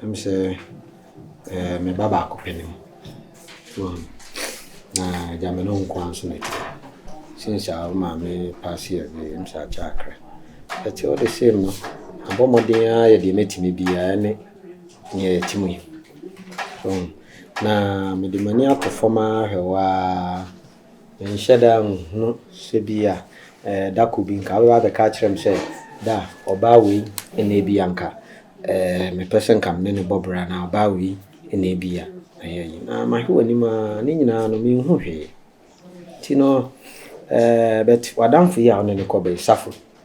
Na me sɛ ɛɛ me ba baako pɛ ne mu. Wɔn na gya me ne nko ara nso na ɛte. Since a wo maame paase away ɛm sɛ akyɛ akra. But all the same no mabɔ mmɔden ara yɛ deɛ mɛtumi biara ne nea ɛte mu yi. Wɔn na mede m'ani ato fam ara hwɛ wo ara. Menhyɛ da nhunu sɛ bi a eh, da koro bi nka wobɛba abɛka akyerɛ me sɛ, Da, ɔbaa wei na ebi a nka eh, mepɛ sɛ nka me ne no bɔ bra anaa ɔbaa wei na ebi a mɛyɛ yi. Na mahwɛ w'anim a, ne nyinaa no menhu hwee. Nti no eh, but w'adamfo yi a wo ne no kɔ bɛn, Safo?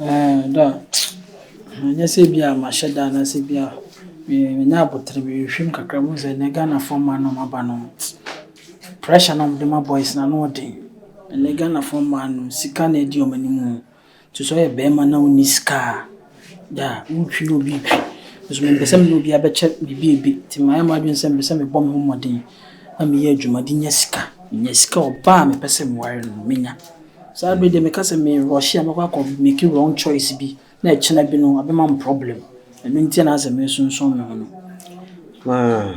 Ɛɛ da a, ɛnyɛ sɛ bi a mahyɛ da anaasɛ bi a manya aboterɛ bi, mehwehwɛm kakra mehu sɛ ɛnnɛ Ghanafoɔ mmaa no a wɔaba no, pressure no a wɔde ma boys no ano yɛ den. Ɛnnɛ Ghanafoɔ mmaa no sika na ɛdi wɔn anim o, nti sɛ woyɛ barima na wonni sika a. Da a, woretwi na obi retwi. Nso mempɛ sɛ me ne obiara bɛkyɛ biribi a ebe, nti mayɛ m'adwene sɛ mepɛ sɛ mebɔ me ho mmɔden na meyɛ adwuma de nya sika. Menya sika a, ɔbaa a mepɛ sɛ meware no, menya. Saa bere deɛ, meka sɛ merɔɔhye a, mɛkɔ akɔ make wrong choice bi na ɛkyena bi no, abɛma me problem. Ɛno nti na asɛ meresunsum me ho no. Haa.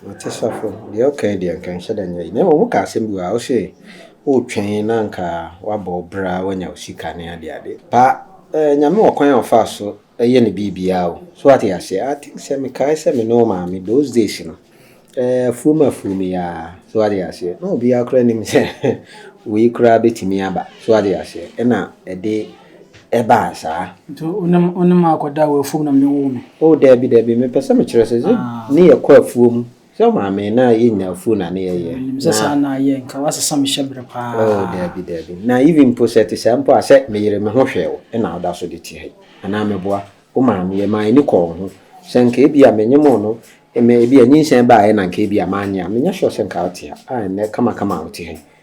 Mate sɔfo, deɛ wokae deɛ anka nhyɛ da nyɛ yie. Na mmom wokaa asɛm bi wɔ ha, wose woretwɛn na anka woabɔ wo bra a woanya wo sika ne ade ade. Pa, eh, Nyame wɔ kwan a ɔfaa so yɛ ne biribiara o. So woate aseɛ? I think sɛ mekae sɛ me ne wo maame those days no, eh, afuom afuom yi ara, so woate aseɛ, na obiara koraa nnim sɛ wei koraa bɛtumi aba, so woate aseɛ, ɛna ɛde. ɛbaa saa. Nti wo ne wo ne me akɔda wɔ afuom na mede woo me? Oh daabi daabi, mepɛ sɛ mekyerɛ sɛ sɛ Ah. ne yɛkɔ afuom sɛ maame na yɛnya afuo na ne yɛyɛ. Menim sɛ saa na ayɛ, nka woasesa me hyɛberɛ paa. Oh daabi daabi, na even mpo sɛ ɛte saa mpo a, sɛ meyere me ho hwɛɛ wo na woda so de te ha yi anaa meboa wo maame yɛ maa ani kɔɔ wo ho. Sɛ nka ebia menyemoo no, me ebia nyinsɛn baeɛ na nka ebia manyɛ a, menyɛ sure sɛ nka wote ha a ɛnnɛ kama kama a wote ha yi.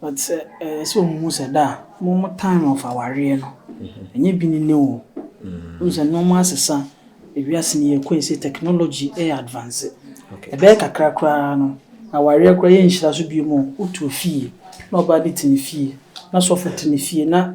But sɛ ɛyɛ sɛ ɔmo hu sɛ da a ɔmo mo time of awareɛ no ɛnyɛ bi ne ne o wonim sɛ nnoɔma asesa ewiase no yɛkɔ yi sei technology ɛyɛ advance ɛbɛyɛ kakra koraa no awareɛ koraa yɛnhyira so biom o wotu fie na ɔbaa bi te ne fie na sɔfo te ne fie na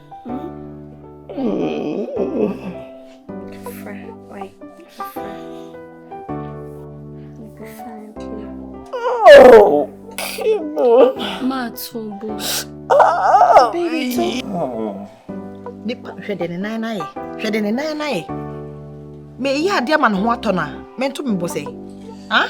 Oh, come on. Matsubu. Ah, baby. Oh. Nipa, hwɛ de ne nan na ye. Hwɛ de ne nan na ye. Me yi ade ama ne ho atɔ na. Me nto me bɔ sɛ. Ah?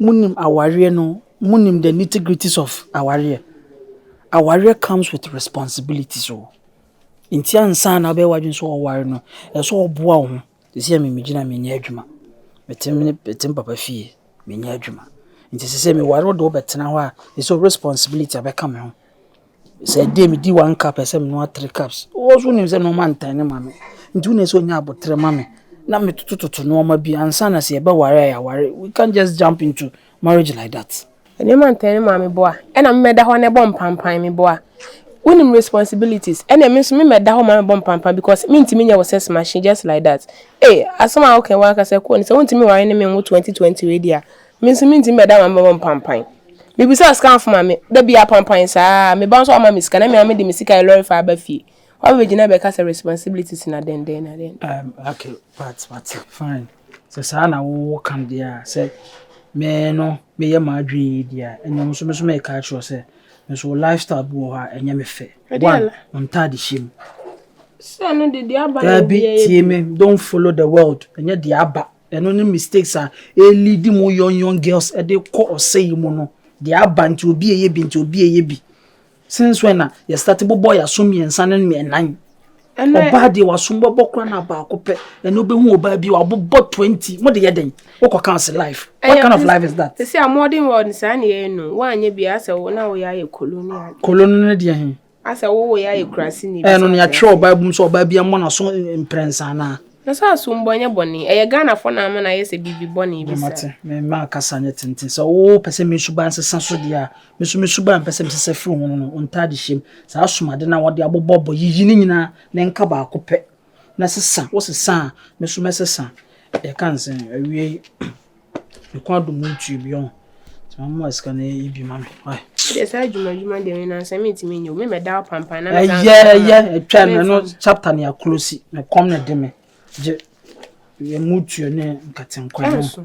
Monim awareɛ no, monim the nitty gritties of awareɛ. Awareɛ comes with responsibilities o. Nti ansa na wobɛyɛ w'adwene sɛ wobɛware no, ɛsɛ sɛ woboa wo ho. Seesei me megyina me nyɛ adwuma, mete me mete me papa fie, menyɛ adwuma. Nti seesei meware wo de wobɛtena hɔ a, ɛsɛ sɛ responsibility bɛka me ho. Sɛ ɛdeɛ medi one cup a ɛsɛ sɛ menoa three cups. Wo nso wonim sɛ nnoɔma ntane ma me nti wo na ɛsɛ sɛ wonya aboterɛ ma me na metotototo nnoɔma bi ansa na sɛ yɛbɛware a yɛaware. We can't just jump into marriage like that. Nnoɔma ntane ma me boa ɛna me mɛda hɔ na ɛbɔ mpampan me boa. Wonim responsibilities ɛna me nso me mɛda hɔ ma mɛbɔ mpampan because mentumi nyɛ wo sex machine just like that. Ei asɛm a woka yi w'ankasa kɔ ni sɛ wontumi nware ne me nwo twenty twenty wei deɛ a Me nso mentumi bɛda ma mɛbɔ mpampan. Mebisaa scanfo ma me, da biara pampan saa. Me ba nso wama me sika na me ara mede me sika yɛ lɔre fa ba fie. Woabɛgyina abɛka sɛ responsibilities na dɛn dɛn na dɛn. Um, okay, but but fine. Sɛ saa na wowɔ ka deɛ a sɛ me no meyɛ m'adwene yi deɛ a ɛnna nso me nso mɛka akyerɛ sɛ me nso lifestyle bi wɔ hɔ a ɛnyɛ me fɛ. One, ntade hyɛ mu. Sɛ no de deɛ aba na ɛbi tie me, don't follow the world. Ɛnyɛ deɛ aba. Ɛno ne mistakes a ɛleadi mo young young girls de kɔ ɔsɛe mu no. Deɛ aba nti obi ɛyɛ bi nti obi ɛyɛ bi. Since when na yɛ start bobɔ yɛ aso mmiɛnsa ne mmiɛnan? Ɔbaa deɛ waso bɛbɔ kora na baako pɛ ɛna wobɛhu ɔbaa bi wabobɔ 20 mo de yɛ dɛn? Wokɔ ka ɔse life. What kind of life is that? Sisi a modern world saa na yɛyɛ no. Woanyɛ bi a asɛ wo na woyɛ ayɛ koloni ade. Koloni no deɛ he? Asɛ wo wɔ yɛ ayɛ kurase ni. Ɛyɛ no nea twerɛ wɔ bible mu sɛ ɔbaa bi mmɔ n'aso mprɛnsa anaa. Na sɛ aso mbɔ nyɛ bɔne. Ɛyɛ Ghana fɔ na ama no ayɛ sɛ biribi bɔne bi saa. Mate, me mma kasa nyɛ tenten. Sɛ wo pɛ sɛ me suban sesa so deɛ a, me so me suban pɛ sɛ me sesa firi ho no no, ntaade hyɛm. Saa asomade no a wɔde abobɔ bɔ, yiyi ne nyinaa na nka baako pɛ na sesa. Wo sesa a, me so mɛsesa. Yɛka nsɛn, awiei. Mekɔ adom mu ntua bi ɔho. Nti mama ma sika no yɛ bi ma me why. Wodeɛ saa adwuma adwuma deɛ me nansa me ntumi nyɛ o me mɛda apampa na mɛda ɛyɛ ɛyɛ ɛtwa no ɛno chapter ne akolosi na kɔm na de me gye ɛmu tuo ne nkatenkwa no ɛnso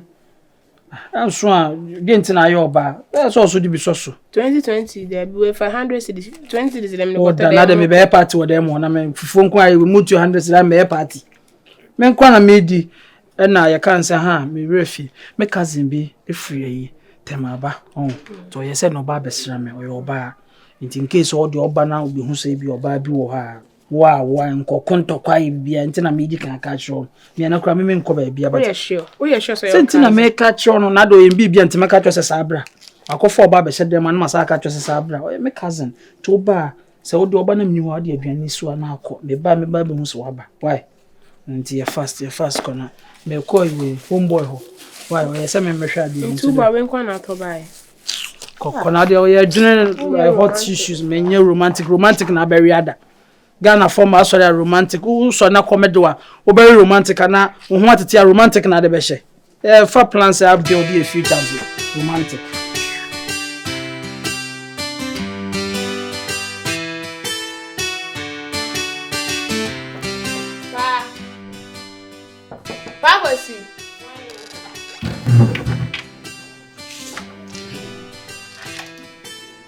ɛnso a deɛ nti na ayɛ ɔbaa ɛyɛ sɛ ɔso de bi sɔ so 2020 deɛ bi wɔ fa 100 cities 20 cities deɛ me kɔtɔ dɛ na deɛ me bɛyɛ party wɔ dɛ mu na me fufuo nko ayɛ mu tuo 100 cities na mɛyɛ party Me nko ara na medi ɛna yɛka nsɛ ha a me werɛ fi me cousin bi ɛfiri ayi tɛmaaba ɔn nti ɔyɛ sɛ na ɔba abɛsra me ɔyɛ ɔbaa nti in case ɔde ɔba na ɔbɛhu sɛ ebi ɔbaa bi wɔ hɔ a wo a wo a nkɔ ko ntɔkwa ayɛ bibia nti na medi kan aka kyerɛ ɔno mea na kura me menkɔ baabi aba sɛ nti na meka kyerɛ ɔno na de ɔyɛ bibia nti mɛka kyerɛ sɛ saa bra akɔfa ɔba abɛhyɛ dɛm a na masa aka kyerɛ sɛ saa bra ɔyɛ me cousin nti ɔba a Sɛ wode woba na menni hɔ a wode aduane no si hɔ a na akɔ. Meba a mɛba abɛhu sɛ waba. Why? Ɛno nti yɛ fast, yɛ fast kɔ na mekɔ yi wei home boy hɔ. Why? Ɔyɛ sɛ memmɛhwɛ adeɛ bi. Nti woba wei nko na atɔ baeɛ. Kɔ kɔ na adeɛ ɔyɛ adwene hot issues menyɛ romantic romantic na abɛwe ada. Ghana fɔ ma asɔre a romantic wosɔre na kɔmɛde wa wobɛwe romantic ana wo ho atete a romantic na ade bɛhyɛ. Eh, fa plan sɛ abdel de yɛ future as romantic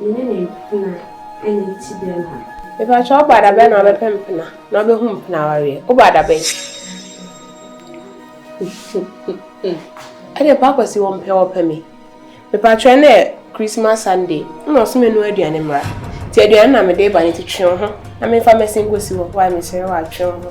Me ne me mpena anya ti bɛma. Mepakyɛ wo ba da bɛn na wobɛpɛ mpena na wobɛhu mpena awareɛ wo ba da bɛn. Ɛde pa akwasi wɔ mpɛ wɔpɛ me. Mepakyɛ ɛnɛ yɛ Christmas Sunday na ɔso me no aduane mmra ti aduane na mede ba ne ti twe wo ho na menfa mɛsen kɔsi hɔ wae mesrɛ wo a twe wo ho.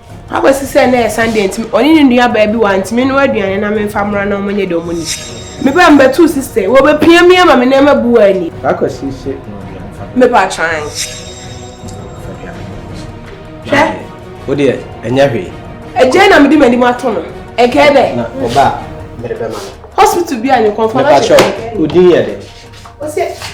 Akɔsi sɛ na ɛyɛ Sunday nti, ɔne ne nuabaa bi wantumi nnoa aduane na memfa mmra na wɔnyɛ deɛ wɔnim. Mebaa mu bɛtoo sista, wɔbɛpia me ama me nneɛma abu wɔ ani. Akɔsi se noa aduane fa me. Mepa kyan. Fa aduane no gu so. Hwɛ. Wo deɛ, ɛnyɛ hwee. Agyae na mede m'anim ato no. Ɛnkɛɛ dɛ. Na ɔba a, mede bɛma no. Hospital bi a ne kɔnfa no ahyɛ. Mepa kyɛw, odin yɛ dɛ. Ɔsɛ.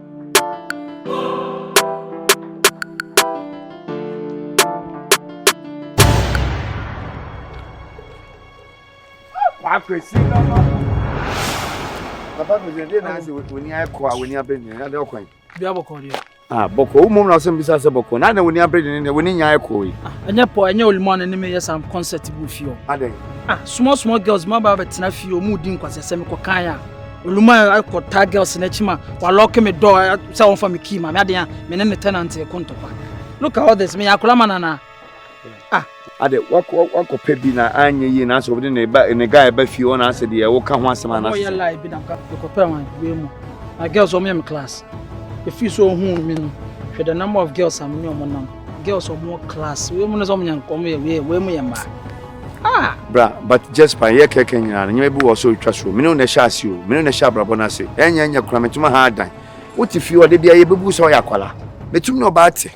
Akwesi nama. Papa Kwesi, ɛdeɛ na ase w'ani akɔ a w'ani abere nyɛ, ɛdeɛ ɔkwan. Bi abɔkɔ deɛ. Ah, bɔkɔ, wo mom na ɔsɛ mbisa sɛ bɔkɔ, na na w'ani abere nyɛ deɛ w'ani nya akɔ yi. Ɛnyɛ pɔ, ɛnyɛ olimɔ na ne me yɛ sam concert bu fie o. Adɛn? Ah, small small girls ma ba bɛtena fie o, mu di nkwasɛsɛm kɔ kan a. oluma akɔ taa girls n'akyi ma walɔke me dɔɔ eh, sɛ wɔmfa me kii ma me adeɛ a me ne ne tenant ɛko ntɔkwa look at all this meyɛ akora ma nanaa ah ade wakɔ pɛ bi na anyɛ yie na asɛ wode ne ba ne guy ba fie hɔ na asɛ deɛ woka ho asɛm anasɛ ɔyɛ lie bi na mka mekɔpɛ wɔn wei mu na girls wɔn yɛ me class ɛfii so ɔhu me no hwɛ the number of girls a me ne wɔn nam girls wɔn class wei mu no sɛ wɔn yɛ nkɔm yɛ wei mu yɛ mmaa Ah! Bra, but just pa, yɛ kɛkɛ nyina no, nyɛma bi wɔ so retwa so, mene wo na ɛhyɛ ase o, mene wo na ɛhyɛ abrabɔ no ase, ɛnyɛ ɛnyɛ kora, metuma ha adan. Wote fie ɔde bia yɛ bɛbu sɛ ɔyɛ akwala, metumi ne ɔbaa te,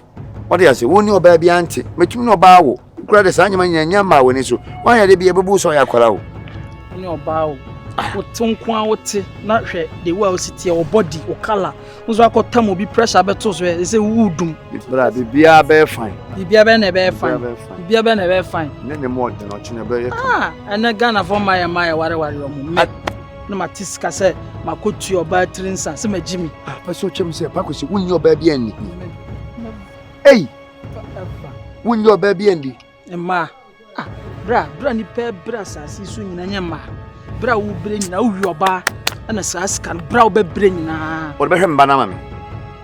ɔde ase, wo ne ɔbaa bia nte, metumi ne ɔbaa wo, kora de saa nyɛma nyina nyɛ mmaa w'ani so, wanyɛ de bia bɛbu sɛ ɔyɛ akwala o. Wo ne ɔbaa o, wote nko a wote, na hwɛ the way a wosi teɛ, wo body, wo color, Wo nso akɔtam obi pressure bɛto so ɛ sɛ wodum. Bra biribiara bɛyɛ fine. Biribiara bɛyɛ na ɛbɛyɛ fine. Biribiara bɛyɛ na ɛbɛyɛ fine. Ne ne mu ɔdene ɔkye na ɛbɛyɛ kama. Ah, ɛnɛ Ghanafoɔ mma yɛ mma yɛ wareware ɔmo mmɛ. Na mate sika sɛ makɔtua ɔbaa tiri nsa sɛ magye mi. Ah, pɛ sɛ ɔkyɛm sɛ pa kɔsi wonni ɔbaa bi anni. Ei, wonni ɔbaa bi anni. Mmaa, ah, berɛ a, berɛ a nipa brɛ asase so nyina nyɛ mmaa. Berɛ a wobrɛ nyina, wowi ɔbaa, ɛna saa sika no, berɛ a wobɛbrɛ nyinaa. Wɔde bɛhwɛ mba no ama me.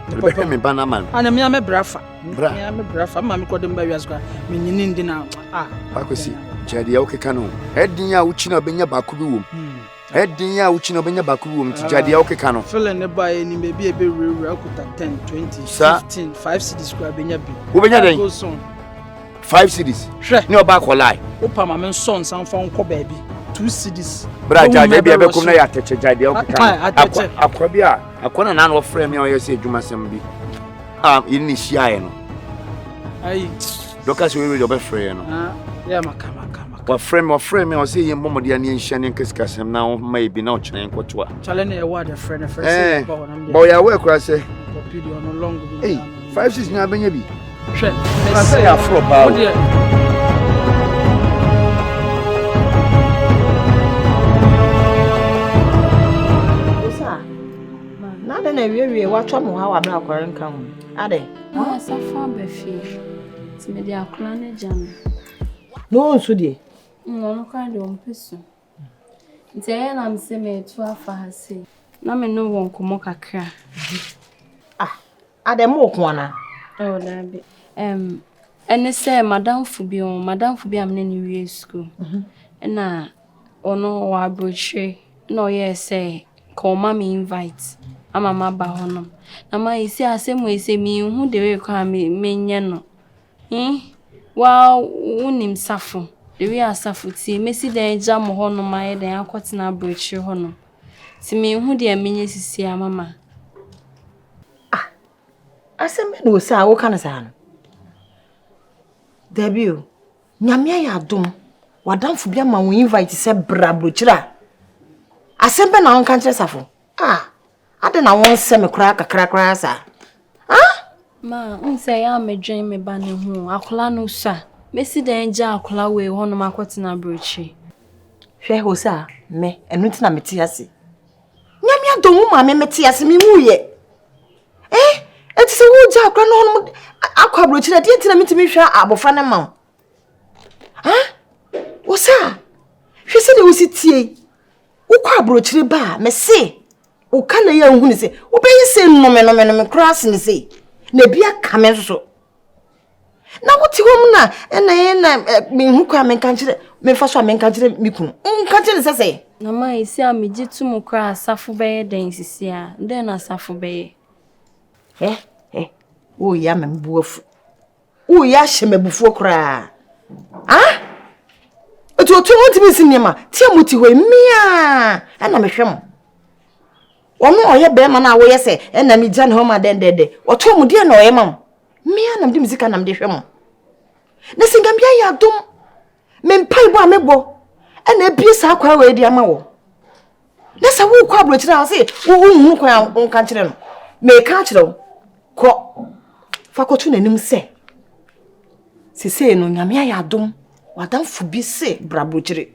Wɔde bɛhwɛ me ba no ama me. Ana mmea me bra fa. Bra. Mmea me bra fa, mma me kɔde mba wiase kwa, me nyini ndi na, ah. Akwasi, kyerɛ deɛ wokeka no. Ɛdin a wokyina wobɛnya baako bi wom. Hmm. Ɛden a wokyi na wobɛnya baako bi wɔ mu nti gya deɛ ah, wokeka no. Fele ne ba yɛ nim baabi a ɛbɛwurawura akuta 10 20 15 5 cities koraa bɛnya bi. Wobɛnya dɛn? 5 cities. Hwɛ ne ɔba akɔlae. Wopa ma me nsɔ nsa mfa nkɔ baabi 2 cities. Bra gya deɛ bi ɛbɛkom na yɛ atɛkyɛ gya deɛ wokeka no. Akwa bi a akwa na nana ɔfrɛ me a ɔyɛ sɛ adwumasɛm bi a yɛne ne hyiaeɛ no. Ayi. Dɔka sɛ wɔyɛ wei deɛ ɔbɛfrɛ yɛ no. Ah, yɛ maka maka. Aka. Ɔfrɛ me ɔfrɛ me a ɔsɛ yɛn bɔ mɔde a ne yɛn hyia ne yɛn ka sikasɛm na ɔho ma yɛ bi na ɔkyerɛ yɛn kɔ to a. Chale na ɛwɔ adɛ frɛ na frɛ sɛ yɛ ba hɔ nam deɛ. Bɔ yɛ awɛ kura sɛ. Kɔpi deɛ ɔno long bi. Ei five six nyɛ abɛnya bi. Hwɛ. Kura sɛ yɛ afro paa. Wo deɛ. na awiewie watɔ mo ha wabra akɔre nka ho adɛ asafo aba fie nti mede akora no gya no Na ɔnsu deɛ? Mm, ɔno koraa deɛ ɔmpɛ su. Nti ɛyɛ na me sɛ meretu afa ha sei. Na me ne wɔ nkɔmmɔ kakra. Ah, adɛ mo ɔko anaa? Ɛwɔ daabi. Ɛm, ɛne sɛ madamfo bi ɔn, madamfo bi a me ne no wie sukuu. Mhm. Ɛna ɔno wɔ aburokyire, ɛna ɔyɛɛ sɛ ka ɔma me invite ama maba hɔnom. Na ma ɛsi asɛm wei sɛ menhu the way koraa a menyɛ no. He, woaa wonim safo, Lewi asafo, tie, mɛsi dɛn agya mo hɔnom ayɛ dɛn akɔtena aborɔkyire hɔnom? Te menhu deɛ menyɛ sisi a, mama. Ah, asɛm bɛ na ose a woka no saa no? Dabi o, Nyame ayɛ adom, wadamfo bi ama wo invite sɛ bra aborɔkyire a, asɛm bɛ na wonka nkyerɛ safo? Ah, Adɛn na wonsɛ me koraa kakra koraa saa? Ah! Ma, nsɛ yɛ a medwen me ba no ho. Akwadaa no sua. Mesi dɛn agya akwadaa wei hɔnom akɔtena aburokyiri? Hwɛ hɔ sɛ a, me, ɛno nti na mete ase. Nyame adɔ wo ma me mete ase, me mu yɛ. Eh, ɛte sɛ wogya akwadaa no hɔnom akɔ aburokyiri, ɛdeɛ nti na metumi hwɛ abɔfra no ma wo. Ah! Wo sɛ a, hwɛ sɛ deɛ wosi tie. wokɔ aburokyire ba a mese woka na yɛ nhunu sɛ wobɛyɛ sɛ nnome nome nome koraa sene sei na ebi aka me nso so na wote hɔ mu na ɛna yɛ na mehu kɔ a menka nkyerɛ mefa so a menka nkyerɛ me kunu nka kyerɛ ne sɛ sɛ na ma ɛsi a megye to mu koraa asafo bɛyɛ dɛn sisi a dɛn na asafo bɛyɛ ɛ ɛ woyɛ ama me bu afu Woyɛ ahyɛ m'abufuo koraa. Ah! Ɛti ɔte hɔ ntumi nsi nneɛma. Tia mo ti hɔ yi, meaa ɛna mehwɛ mo. Ɔno ɔyɛ bɛrima no a woyɛ sɛ ɛna me gya ne hɔ ma dɛndɛndɛ. Ɔte hɔ mu deɛ na ɔyɛ ma mo. Meaa na mede me sika na mede hwɛ mo. Na sɛ nyame ayɛ adom. Me mpaebɔ a mebɔ ɛna abie saa kwan wɔ adi ama wɔ. Na sɛ wokɔ aburokyerɛ a ɔse wohunu kwan a wonka kyerɛ no. Meka kyerɛ wo kɔ fa kɔto n'anim sɛ sesei no nyame ayɛ adom wadamfo bi se bra aburokyire.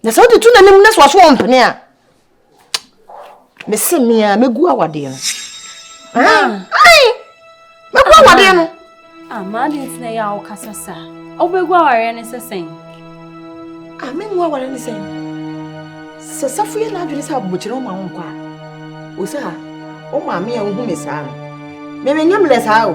Na sɛ wode to n'anim na sɛ ɔso ɔmpene a mese mea mɛgu awadeɛ no mɛgu awadeɛ no amaa de ntina yɛ a wokasa saa wobɛgu awareɛ no sɛ sɛn amengu awareɛ no sɛn sɛ safo yɛ n'adwene sɛ abokyerɛ woma wo nkɔ a wo sɛ a wo maame a wohu me saa no memenya mmerɛ saa o